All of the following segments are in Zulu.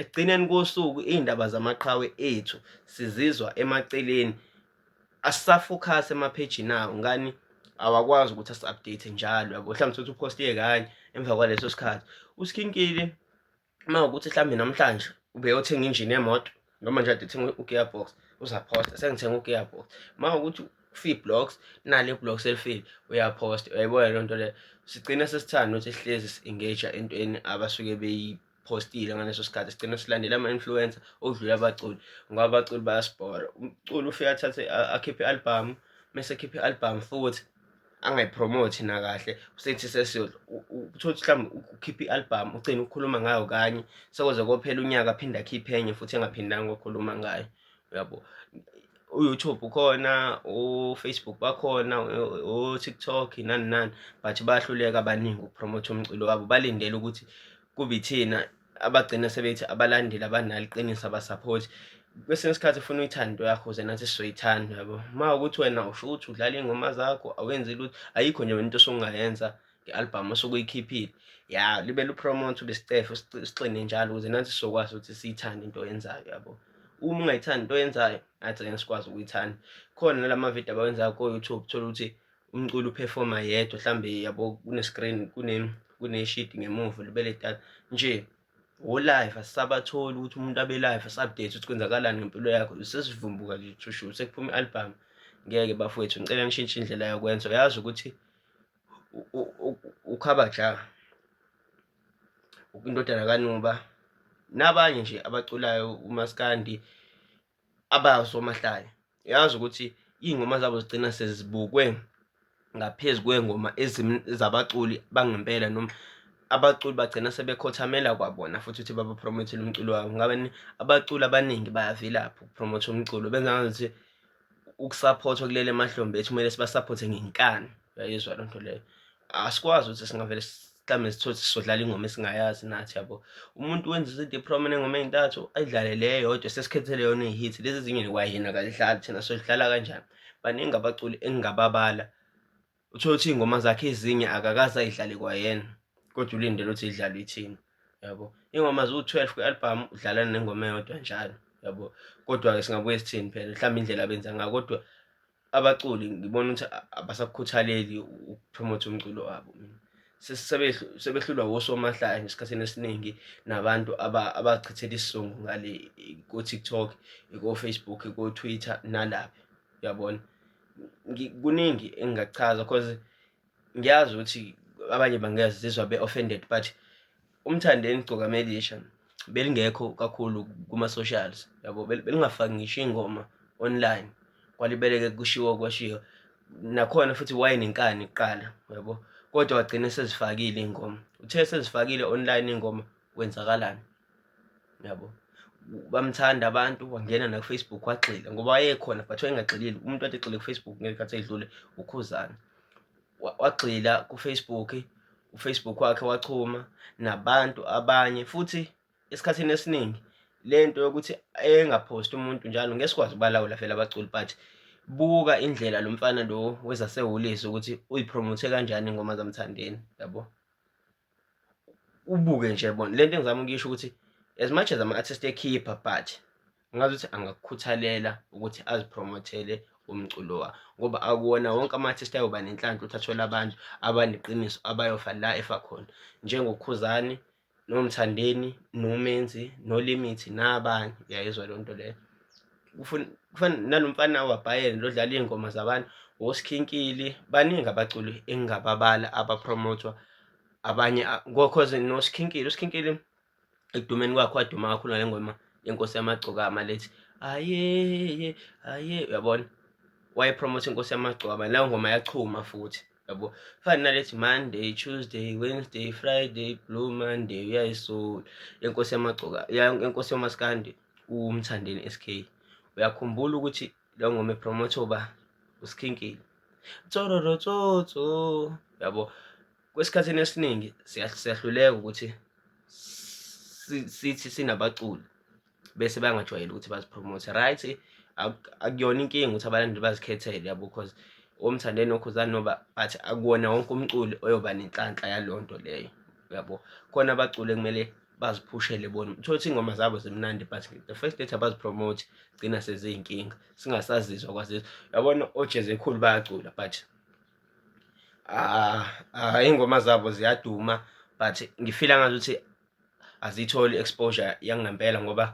Ekugcineni kosuku iy'ndaba zamaqhawe ethu sizizwa emaceleni asisafokhasi emaphejini awo ngani awakwazi ukuthi asi-update njalo yabo mhlawumbe sokuthi uphostiye kanye emva kwaleso sikhathi usikhinkile uma ukuthi mhlawumbe namhlanje ubeyothenga injini yemoto noma nje adethenga u-gearbox uzaphosta sengithenga u-gearbox uma ukuthi fee blocks nale blocks elifile uyaphosta uyayibona loo nto leyo sigcine sesithanda ukuthi sihlezi si-engage entweni abasuke beyi postile ngaleso sikhathi sigcina silandela ama-influencer okudlula abaculi ngoba abaculi bayasibhora umculi ufike athathe akhiphe i-albhamu mese ekhiphe i-albhamu futhi angayipromothi nakahle usethi sesiyodla uthole ukuthi mhlawumbe ukhiphe i-albhamu ugcine ukukhuluma ngayo kanye sekoze kophela unyaka aphinde akhiphe enye futhi engaphindanga ukukhuluma ngayo uyabo u-youtube ukhona u-facebook bakhona u-tiktok nani nani but bayahluleka abaningi ukupromotha umculo wabo balindele ukuthi kube ithina abagcina sebethi abalandeli abanalo iqiniso abasaphothi kwesinye isikhathi ufuna uyithando yakho ze nathi sizoyithanda yabo uma ukuthi wena usho ukuthi udlala iy'ngoma zakho awenzi lutho ayikho nje into osungayenza nge-albhamu osuke uyikhiphile ya libe lupromotha ube sicefe sixine njalo ukuze nathi sizokwazi ukuthi siyithande into oyenzayo yabo uma ungayithandi into oyenzayo nathi ngeke sikwazi ukuyithanda khona nala mavidiyo abawenzayo ko-youtube thola ukuthi umculo uphefoma yedwa mhlawumbe yabo kunescreen kuneshidi ngemuva libe letata nje wolive asisabatholi ukuthi umuntu abe live asi-update ukuthi kwenzakalani ngempilo yakho sesivumbuka nje thushu sekuphuma i-albhamu ngeke bafowethu ngicela nishintshe indlela yokwenza uyazi ukuthi uKhabaja indodana kaNuba nabanye nje abaculayo uMaskandi abasomahlaya yazi ukuthi iy'ngoma zabo zigcina sezibukwe ngaphezu kwey'ngoma zabaculi bangempela noma abaculi bagcina sebekhothamela kwabona futhi ukuthi babapromothele umculo wabo ngabe abaculi abaningi bayavilapha ukupromotha umculo benza ngazuthi ukusaphothwa kulele emahlombe ethi kumele sibasaphothe ngenkani uyayizwa loo nto leyo asikwazi ukuthi singavele mhlawumbe sithole sizodlala ingoma esingayazi nathi yabo umuntu wenza izinto eprom enengoma ey'ntathu ayidlale le yodwa sesikhethele yona ihithi lezi ezinye kwayena akazidlali thina sozidlala kanjani baningi abaculi engingababala uthole ukuthi iy'ngoma zakhe ezinye akakaze ayidlale kwayena kodwa ulindele ukuthi idlalwe ithina yabo iy'ngoma ziwu-twelve kwi-album udlalana nengoma eyodwa njalo yabo kodwa-ke singabuye sithini phela mhlawumbe indlela abenza ngayo kodwa abaculi ngibona ukuthi abasakukhuthaleli ukupromotha umculo wabo mina sebehlulwa wosomahlaya nje esikhathini esiningi nabantu abachithela isizungu ngale ko-tiktok ko-facebook ko-twitter nalaphi uyabona kuningi engingachaza cause ngiyazi ukuthi abanye bangezizwa be-offended but umthandeni gcokameli yesha belingekho kakhulu kuma-socials yabo belingafaki ngisho ingoma online kwalibeleke kushiwo kwashiwo nakhona futhi wayenenkani kuqala yabo kodwa wagcina sezifakile iy'ngoma uthe sezifakile online iy'ngoma kwenzakalani yabo bamthanda abantu wangena nakufacebook wagxila ngoba wayekhona but wayengagxilile umuntu ade egxile kufacebook ngesikhathi edlule ukhuzana wagxila kufacebook ufacebook wakhe wachuma nabantu abanye futhi esikhathini esiningi le nto yokuthi engaphosti umuntu njalo ngeke sikwazi ubalawula vele abaculi but buka indlela lo mfana lo wezasehholisi ukuthi uyipromothe kanjani ingoma zamthandeni yabo ubuke nje bona lento engizama ukuyisho ukuthi as much as ama-artist ekhipha but ngazi ukuthi angakukhuthalela ukuthi azipromothele umculo wa ngoba akuwona wonke ama-artist ayoba nenhlanhla ukuthi athole abantu abaneqiniso abayofa la efa khona njengokhuzani nomthandeni nomenzi nolimithi nabanye uyayizwa loo nto leyo kufana nalomfana waBayern lodlala iy'ngoma zabantu woSkhinkili baningi abaculi engingababala abapromotwa abanye cause noSkhinkili uSkhinkili ekudumeni kwakhe waduma kakhulu ngale ngoma yenkosi yamagcokama lethi ayeye aye uyabona wayepromotha inkosi yamagcokama leyo ngoma yachuma futhi yabo fani nalethi monday tuesday wednesday friday blue monday uyayisola yenkosi yamagcoka yenkosi yamaskandi umthandeni sk uyakhumbula ukuthi lo ngoma epromotha uba usikhinkile tsororo tsotso yabo kwesikhathini esiningi siyahluleka ukuthi sithi sinabaculi bese bangajwayeli ukuthi bazipromote right akuyona inkinga ukuthi abalandeli bazikhethele yabo because omthandeni okhuzani noba but akuwona wonke umculi oyoba nenhlanhla yaleyo nto leyo yabo khona abaculi ekumele baziphushele bona uthole ukuthi iy'ngoma zabo zimnandi but the first date abazipromote gcina seziyinkinga singasazizwa kwazizwa yabona ojezi ekhulu bayacula but ah, ah, iy'ngoma zabo ziyaduma but ngifila ngathi ukuthi aziyitholi i-exposure yangempela ngoba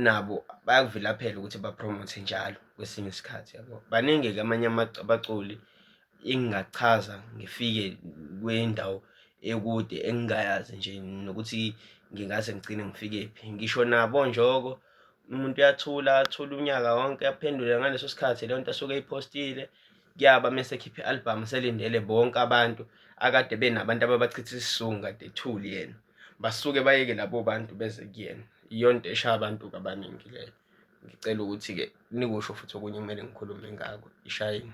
nabo bayakuvilaphela ukuthi bapromote njalo kwesinye isikhathi yabo baningi-ke amanye abaculi engingachaza ngifike kwendawo ekude engingayazi nje nokuthi ngingaze ngigcine ngifikephi ngisho nabo njoko umuntu uyathula athule unyaka wonke aphendule ngaleso sikhathi leyo nto asuke eyiphostile kuyaba mese ekhipha i-album selindele bonke abantu akade benabantu ababachitha isizungu kade ethuli yena basuke bayeke labo bantu beze kuyena iyonto eshaya abantu kabaningi leyo ngicela ukuthi-ke nikusho futhi okunye kumele ngikhulume ngako ishayini